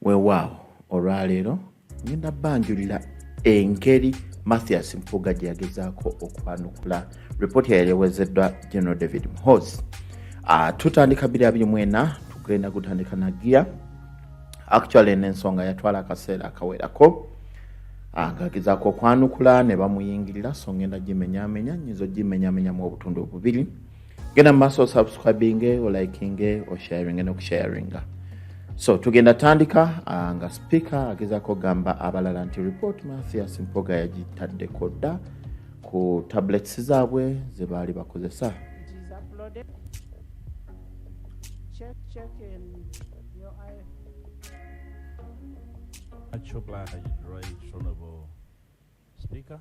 weewaawo olwaleero ngenda banjulira engeri mathias mpuga gye yagezaako okwanukula ripooti yayali ewezeddwa general david mhos ah, tutandika 224 tugenda gutandika nagiya actually nensonga yatwala akaseera akawerako ah, ngagezaako okwanukula ne bamuyingirira so ngenda gimenyamenya nyinza ogimenyamenyamu obutundu obubiri genda mumaaso osubscribinge olikinge osharinge nokusharinga so tugenda tandika ah, nga sipiika agezako gamba abalala nti report mathias mpoga yagitaddeko dda ku tablets zaabwe ze baali bakozesa Speaker.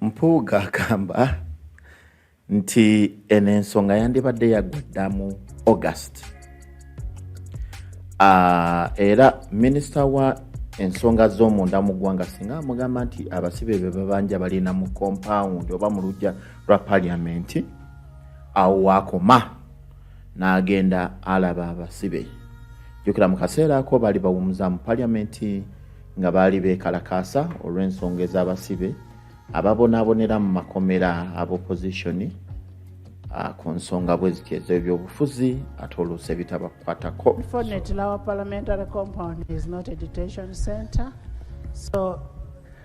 Mpuuga agamba nti eno ensonga yandibadde yagwa dda mu August. Uh, era minisita wa ensonga z'omunda mu ggwanga singa amugamba nti abasibe be babanja balina mu kompawundi oba mu lujja lwa paliamenti awo waakoma n'agenda alaba abasibe jukira mu kaseera ako baali bawumuza mu paliamenti nga baali beekalakaasa olw'ensonga ez'abasibe ababonaabonera mu makomera abopozisioni ah, ku nsonga bwe ziti ez'ebyobufuzi ate oluusi ebitabakwatako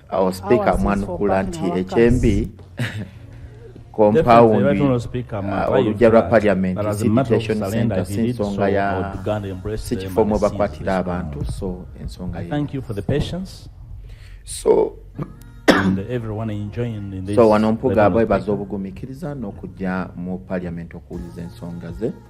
awo sipiika amwanukula nti ekyembi kompawundi uh, olujja lwa parliament station center si nsonga ya si kifo mwe bakwatira abantu so ensonga so so wano mpuga bwebaza obugumikiriza n'okujja mu parliament okuwuliza ensonga ze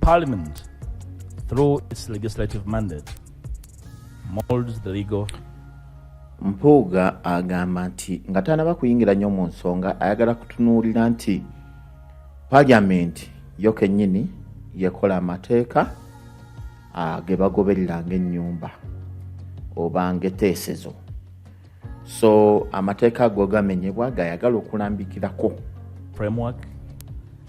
Parliament, through its legislative mandate, molds the legal Mpuuga agamba nti nga tanaba kuyingira nnyo mu nsonga ayagala kutunuulira nti paliamenti yo kennyini yekola amateeka ah, ge bagoberera ng'ennyumba oba ng'eteesezo so amateeka ago gamenyebwa gayagala okulambikirako framework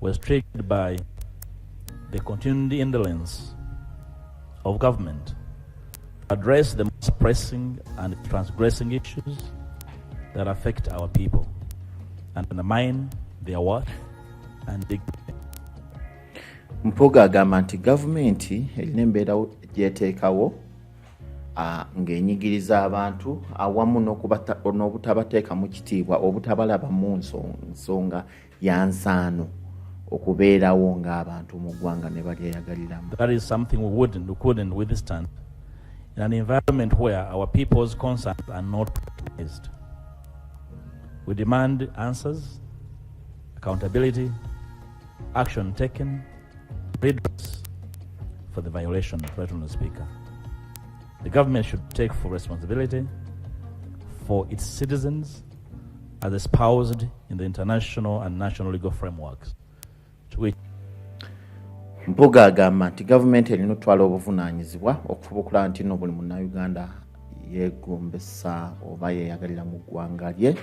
was triggered by the continued indolence of government to address the most pressing and transgressing issues that affect our people and undermine their worth and dignity. Mpuga agamba nti gavumenti erina embeera gyeteekawo ng'enyigiriza abantu awamu n'obutabateekamu kitiibwa obutabalaba mu nsonga ya nsaano okubeerawo ng'abantu mu ggwanga ne balyeyagaliramu in an environment where our people's concerns are not recognized. We demand answers, accountability, action taken, redress for the violation, Right, Mr. Speaker. The government should take full responsibility for its citizens as espoused in the international and national legal frameworks to which mpuga agamba nti gavumenti erina otwala obuvunaanyizibwa okufuba okulaba nti no buli munnauganda yeegombesa oba yeeyagalira mu ggwanga lye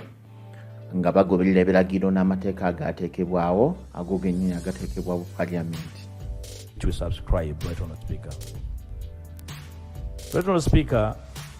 nga bagoberera ebiragiro n'amateeka agaateekebwawo ago gennyini agateekebwa bu paliamenti to subscribe right on the speaker right on the speaker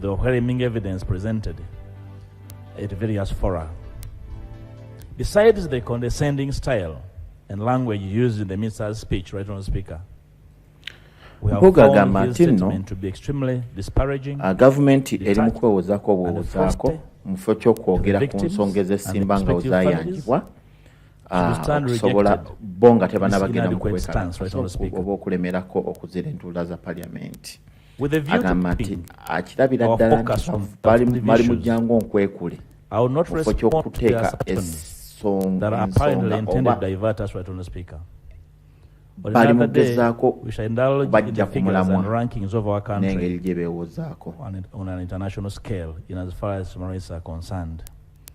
The overwhelming evidence presented at various fora. Besides the condescending style and language used in the minister's speech, right on speaker, mpuuga agamba nti nno ah, gavumenti eri mu kwewozaako obuwozaako mu kifo ky'okwogera ku nsonga ezesimba nga wezayanjibwa ah, okusobola bo nga tebanabagenda mu kwekalakaza oba okulemerako okuzira entuula za paliyamenti agamba nti akirabira ddala nti bali mu jangu onkwekule kifo ky'okuteeka ensonga oba bali mu kugezaako bajja ku mulamwa n'engeri gye beewozaako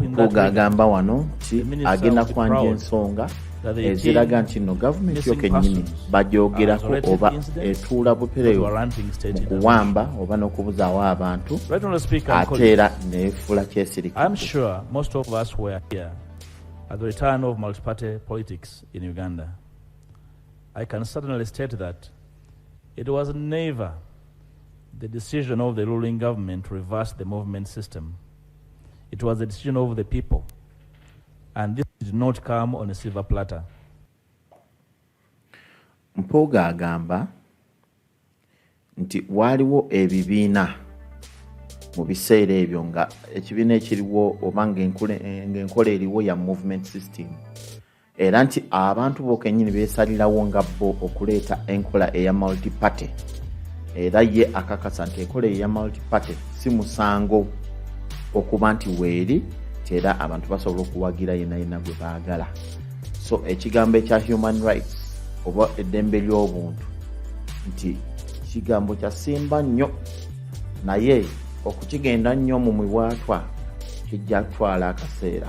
Mpuuga agamba wano nti agenda kwanja ensonga eziraga nti no gavumenti yo kennyini bagyogerako oba etuula butereevu mu kuwamba oba n'okubuzaawo abantu ate era neefuula kyesirika At the return of multi-party politics in Uganda, I can certainly state that it was never the decision of the ruling government to reverse the movement system. It was a decision of the people. And this did not come on a silver platter. Mpuuga agamba nti waaliwo ebibiina mu biseera ebyo nga ekibiina ekiriwo oba ng'enkola eriwo ya movement system era nti abantu bokenyini besalirawo nga bo okuleeta enkola eya multiparty era ye akakasa nti enkola eya multiparty si musango okuba nti weeri tera abantu basobola okuwagira yenayina gwe baagala so ekigambo ekya human rights oba eddembe ly'obuntu nti kigambo kyasimba nnyo naye okukigenda nnyo mu mibwatwa kijja kutwala akaseera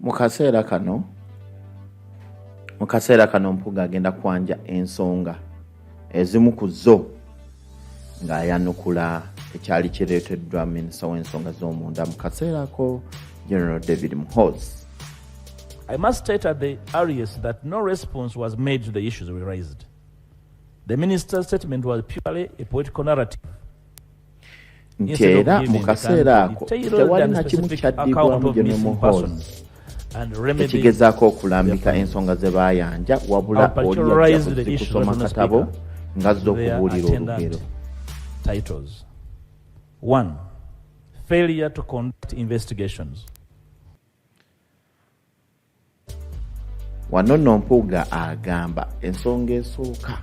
mu kaseera kano mu kaseera kano mpuga agenda kwanja ensonga ezimu ku zo ng'ayanukula ekyali kireeteddwa minisita w'ensonga z'omunda mu kaseera ako general david mhos I must state at the earliest that no response was made to the issues we raised. The minister's statement was purely a political narrative. nti era mu kaseera ako tewali na kimu kyaddibwamu gye nomuhoozi ekigezaako okulambika ensonga ze baayanja wabula oliyakusoma katabo nga zza okubuulira olugero failure to conduct investigations Wano nno Mpuuga agamba ensonga esooka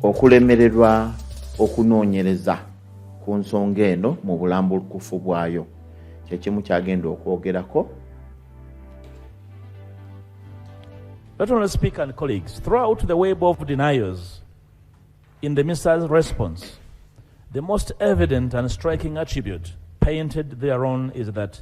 okulemererwa okunoonyereza ku nsonga eno mu bulambulukufu bwayo kyekimu kyagenda okwogerako Not only speaker and colleagues, throughout the web of deniers in the missile's response, the most evident and striking attribute painted thereon is that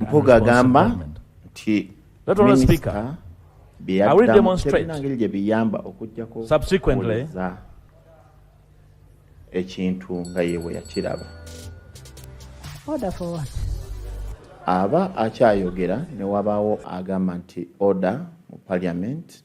mpuga agamba nti minisita byeyaddamu tebina ngeri gye biyamba okujjako okuwuliriza ekintu nga ye bwe yakiraba aba akyayogera ne wabaawo agamba nti oda mu parliament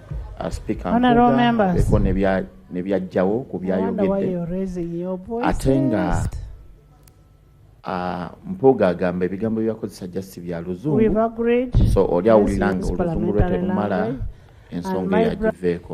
asipikaeko nebyajjawo ku byayogedde ate nga Ah, mpuuga agamba ebigambo byebakozesa jasi bya luzungu so oli awulira nga oluzungu lwe terumala ensonga eyagiveeko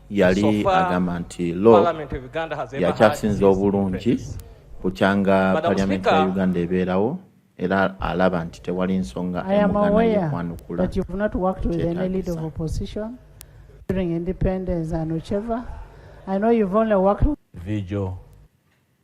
yali agamba nti lo yakyasinza obulungi bukyanga palyamenti ya uganda ebeerawo era alaba nti tewali nsonga emugana yekwanukula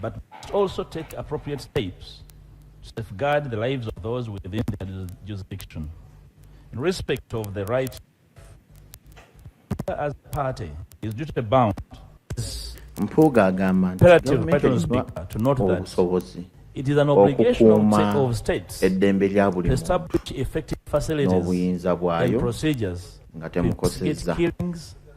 But also take appropriate steps to safeguard the lives of those within their jurisdiction. In respect of the right as a party is duty bound mpuuga agamba nti gavumenti erina obusobozi okukuuma eddembe lya buli muntu n'obuyinza bwayo nga temukosezza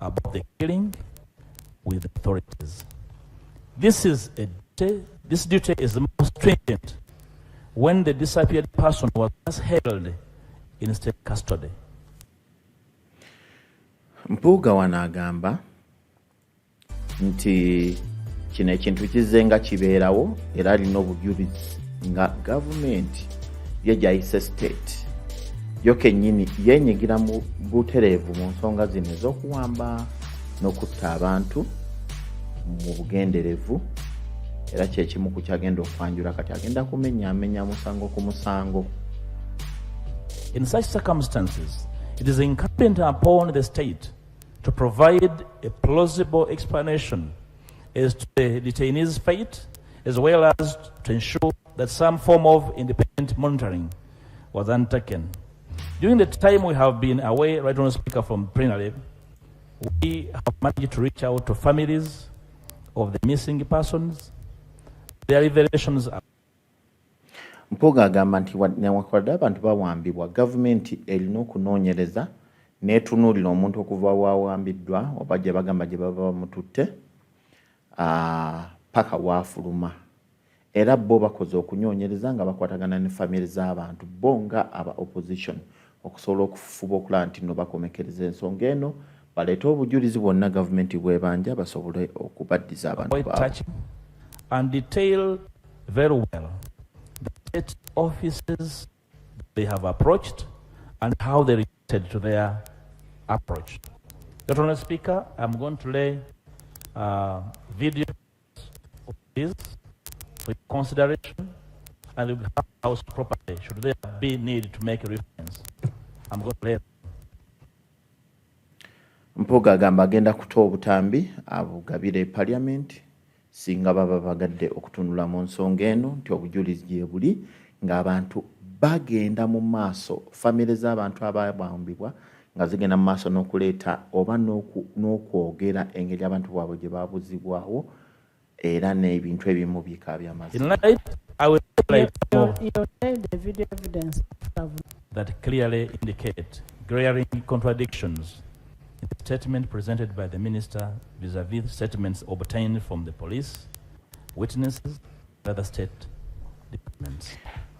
about the killing with authorities. This is a duty, this duty is the most stringent when the disappeared person was last held in state custody. Mpuuga wano agamba nti kino ekintu kizze nga kibeerawo era alina obujulizi nga gavumenti ye gyayise state yo kennyini yenyigira mu butereevu mu nsonga zino ez'okuwamba n'okutta abantu mu bugenderevu era kyekimu ku kyagenda okwanjula kati agenda kumenya amenya musango ku musango In such circumstances, it is incumbent upon the state to provide a plausible explanation as to the detainee's fate, as well as to ensure that some form of independent monitoring was undertaken. During the time we have been away, right on speaker from plenary, we have managed to reach out to families of the missing persons. Their revelations are mpuuga agamba nti newankubadde abantu bawambibwa gavumenti erina okunoonyereza n'etunuulira omuntu okuva wawambiddwa oba gye bagamba gye baba bamututte paka waafuluma Era bbo bakoze okunyonyereza nga bakwatagana ne family z'abantu bbo nga aba opposition okusobola okufufuba okulaba nti no bakomekereza ensonga eno baleete obujulizi bwonna gavumenti bwebanja basobole okubaddiza abantu baabwe. And detail very well the state offices they have approached and how they reacted to their approach. Dr. Speaker, I'm going to lay uh, video This, for consideration, and will have house property should there be need to make a reference. I'm going to let Mpuga agamba agenda kuta obutambi abugabire parliament singa baba bagadde okutunula mu nsonga eno nti obujulizi gyebuli ng'abantu bagenda mu maaso famire z'abantu ababambibwa nga zigenda mu maaso n'okuleeta oba n'okwogera engeri abantu bwabwe gye babuzibwawo era n'ebintu ebimu bika byamazima that clearly indicate glaring contradictions in the statement presented by the minister vis-a-vis -vis statements obtained from the police, witnesses,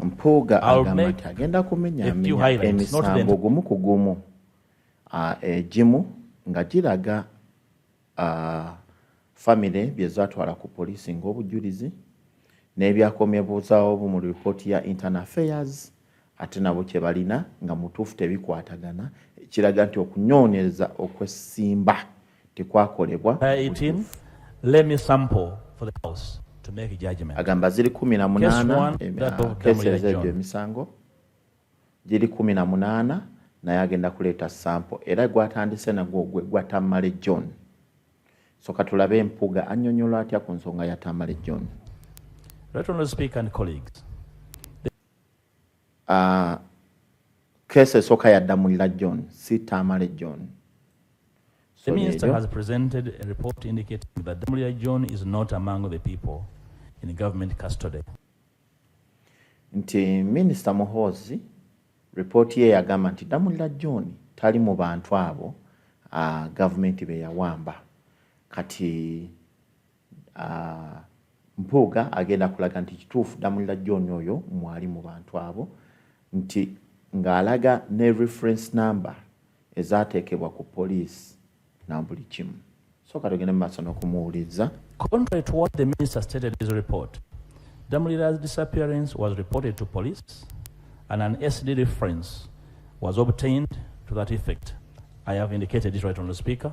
mpuuga agamba nti agenda kumenya menya emisango gumu ku gumu egimu nga giraga famire byezatwala ku poliisi ng'obujulizi n'ebyakomyebuuzaawo mu lipooti ya internal affairs ate nabo kye balina nga mutuufu tebikwatagana ekiraga nti okunyoonyereza okwesimba tekwakolebwa agamba ziri kumi na munaana keeseza egyo emisango giri kumi na munaana naye agenda kuleeta sampo era gwatandise nagwo gwe gwa tamale john so katulabe empuga annyonyola atya ku nsonga ya tamale john uh, kesi esooka yadda mu lila john si tamale john The minister has presented a report indicating that Damulia John is not among the people in government custody. Nti Minister Muhozi report ye yagamba nti Damulia John tali mu bantu abo uh, government be yawamba kati Ah, Mpuuga agenda kulaga nti kituufu Damulira John oyo mwali mu bantu abo nti ng'alaga ne reference number ezateekebwa ku poliisi na buli kimu sooka tugende mu maaso n'okumuwuliriza Contrary to what the minister stated in his report, Damulira's disappearance was reported to police and an SD reference was obtained to that effect. I have indicated it right on the speaker.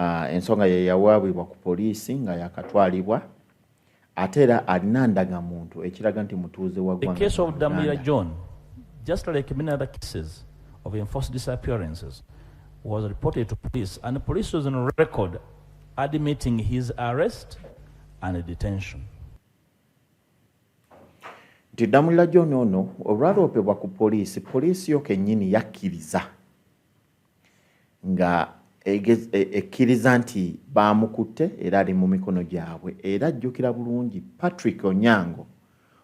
Ah, ensonga ye yawaabibwa ku poliisi nga yakatwalibwa ate era alina ndagamuntu ekiraga nti mutuuze wa nti damulira john ono olwaloopebwa ku poliisi poliisi yo kennyini yakkiriza nga e, ekkiriza nti baamukutte era ali mu mikono gyabwe era ajjukira bulungi Patrick Onyango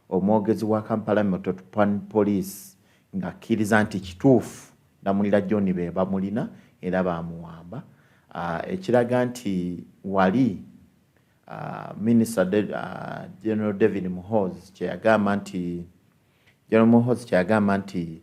omwogezi wa Kampala Metropolitan Police ng'akkiriza nti kituufu Ddamulira John be bamulina era baamuwamba ah, ekiraga nti wali Uh, minister uh, general david muhoz kyeyagamba nti general muhoz kyeyagamba nti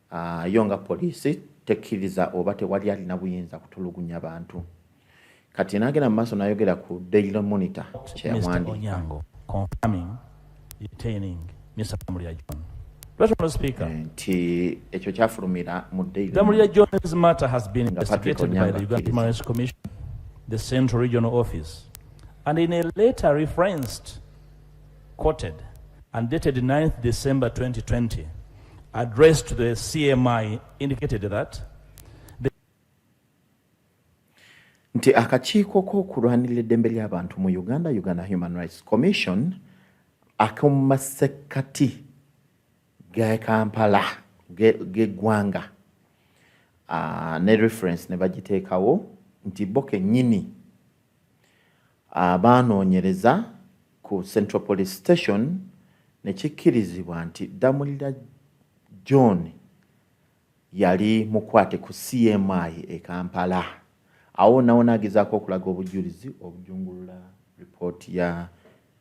Ah, yo nga poliisi tekkiriza oba tewali alina buyinza kutulugunya bantu kati nagenda mu maaso nayogera ku daily monitor kyeyawandiika nti ekyo kyafulumira mu dailythe central regional office and in a letter referenced Quoted and dated 9th December 2020, addressed to the CMI indicated that nti akakiiko k'okulwanirira eddembe ly'abantu mu Uganda, Uganda Human Rights Commission, ak'omu masekkati ga Kampala g'eggwanga ne reference ne bagiteekawo nti bo kennyini Abaanoonyereza ku Central Police Station ne kikkirizibwa nti Ddamulira John yali mukwate ku CMI e Kampala. Awo nawona agezaako okulaga obujjulizi obujungulula lipooti ya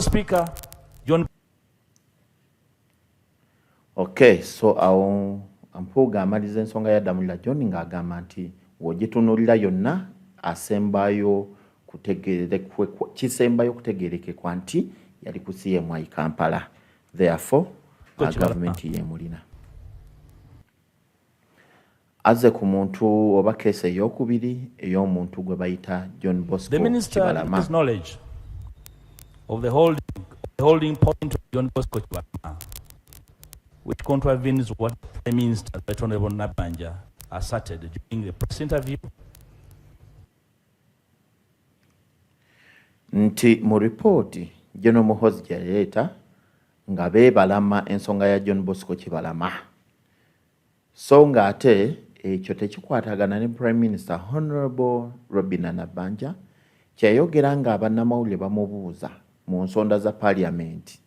Speaker John Okay, so awo Mpuuga amaliza ensonga ya Damulira John ng'agamba nti w'ogitunulira yonna asembayo kisembayo kutegerekekwa nti yali ku CMI Kampala therefore gavumenti yemulina azze ku muntu oba keesi ey'okubiri ey'omuntu gwe bayita john bosco kibalama which contravenes what Prime Minister Right Honorable Nabanja asserted during the press interview. Nti mu ripooti General Muhoozi gye yaleeta nga beebalama ensonga ya John Bosco Kibalama. so nga ate ekyo tekikwatagana ne prime minister honorable robina nabanja kyeyayogera nga abannamawulire bamubuuza mu nsonda za paliamenti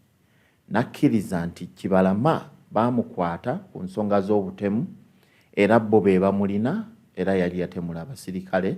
nakkiriza nti kibalama baamukwata ku nsonga z'obutemu era bo be bamulina era yali yatemula abasirikale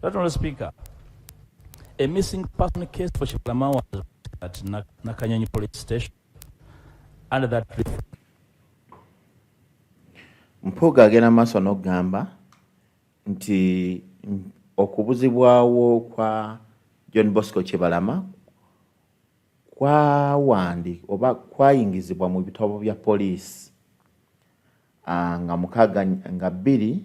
That Honorable Speaker, a missing person case for Shiplama was at Nakanyonyi police station under that Mpuuga agenda maaso n'okugamba nti okubuzibwawo kwa John Bosco Kibalama kwawandi oba kwayingizibwa mu bitabo bya poliisi ah, nga mukaaga nga bbiri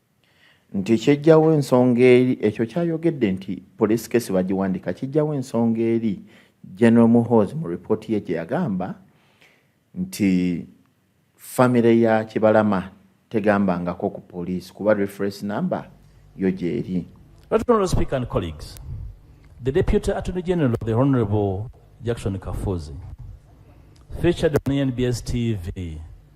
nti kyejjawo ensonga eri ekyo kyayogedde nti police case bagiwandika kijjawo ensonga eri general muhoz mu report ye gye yagamba nti famire ya kibalama tegambangako ku police kuba reference number yo gyeri The Deputy Attorney General, the Honorable Jackson Kafuzi, featured on NBS TV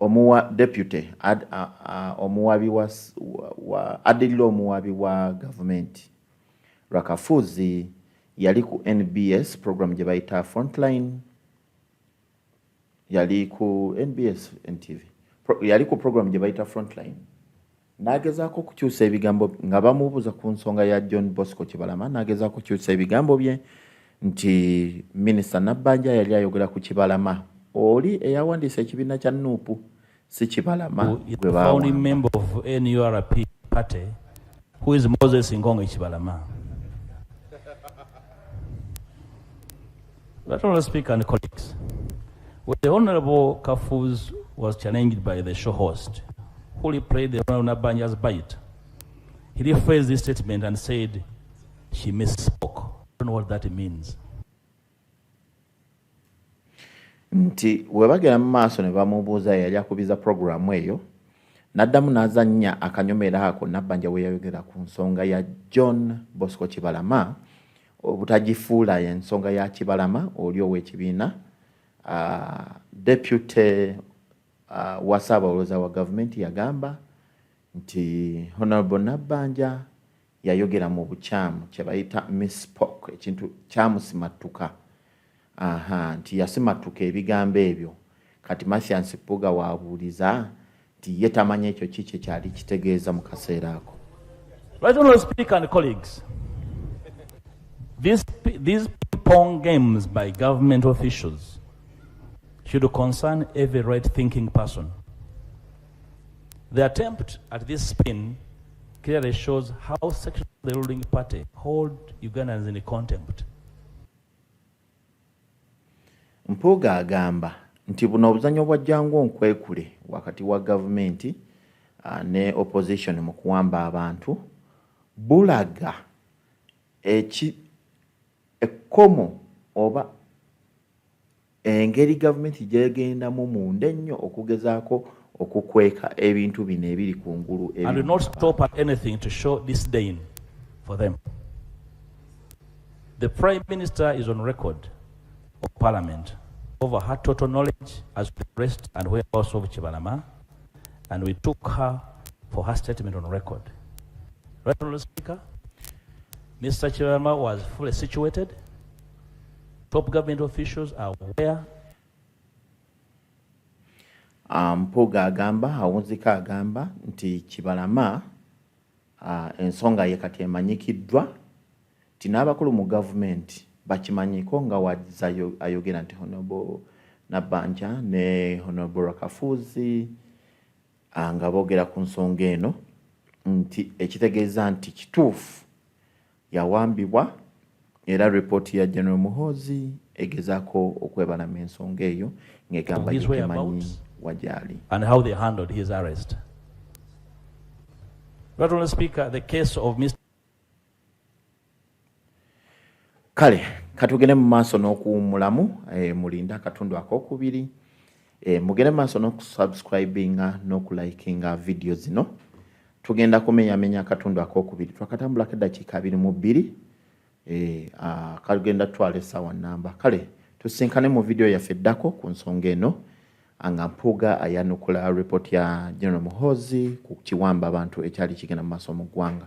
omuwa deputy ad, a, a, omuwabi wa, wa addirira omuwabi wa gavumenti rakafuzi yali ku nbs program gye bayita frontline yali ku nbs ntv Pro, yali ku program gye bayita frontline N'agezaako okukyusa ebigambo nga bamubuuza ku nsonga ya John Bosco Kibalama n'agezaako okukyusa ebigambo bye nti minisita Nabbanja yali ayogera ku Kibalama oli eyawandiisa ekibiina kya nup si Kibalama gwe baawamba. That Honourable Speaker and colleagues, when the Honourable Kafuz was challenged by the show host, who replayed the Honourable Nabanya's bite, he rephrased this statement and said, she misspoke. I don't know what that means. nti webagera mu maaso ne bamubuuza yali akubiza puroguramu eyo n'addamu n'azannya akanyomera ako nabbanja we yayogera ku nsonga ya john bosco kibalama obutagifuula ensonga ya kibalama oli ow'ekibiina depute wa ssaabawoloza wa gavumenti yagamba nti honorable nabbanja yayogera mu bukyamu kyebayita misspoke ekintu kyamusimattuka Ahaa nti yasimattuka ebigambo ebyo kati Mathias Mpuuga w'abuuliza nti ye tamanyi ekyo ki kye kyali kitegeeza mu kaseera ako. Right honorable speaker and colleagues, these, these pong games by government officials should concern every right thinking person. The attempt at this spin clearly shows how sections of the ruling party hold Ugandans in contempt. Mpuuga agamba nti buno obuzanyo bwa jangu onkwekule wakati wa gavumenti ah, ne opposition mu kuwamba abantu bulaga eki ekkomo oba Engeri gavumenti gyegendamu munda ennyo okugezaako okukweka ebintu bino ebiri ku ngulu The Prime Minister is on record of Parliament over her total knowledge as to the rest and whereabouts of Chibalama, and we took her for her statement on record. Right, Honourable Speaker, Mr. Chibalama was fully situated Top government officials are aware. Ah, Mpuuga agamba awunzika agamba nti Kibalama ah, ensonga ye kati emanyikiddwa nti n'abakulu mu gavumenti bakimanyiko nga waza ayogera nti honobo Nabanja ne honobo Rakafuzi ah, nga boogera ku nsonga eno nti ekitegeeza nti kituufu yawambibwa era ripooti ya General Muhoozi egezaako okwebalama ensonga eyo ng'egamba gitemanyi wagyali and how they handled his arrest Not only speaker, the case of Mr. Kale katugende mu maaso n'okuwummulamu eh, mulinda akatundu akokubiri E, mugere maaso n'okusubscribinga n'okulikinga vidiyo zino tugenda kumenyamenya akatundu akokubiri twakatambulako eddakiika abiri mu bbiri e, kagenda tutwala essaawa nnamba kale tusinkane mu vidiyo yaffe eddako ku nsonga eno nga mpuuga ayanukula report ya general muhoozi ku kiwamba abantu ekyali kigenda mu maaso mu ggwanga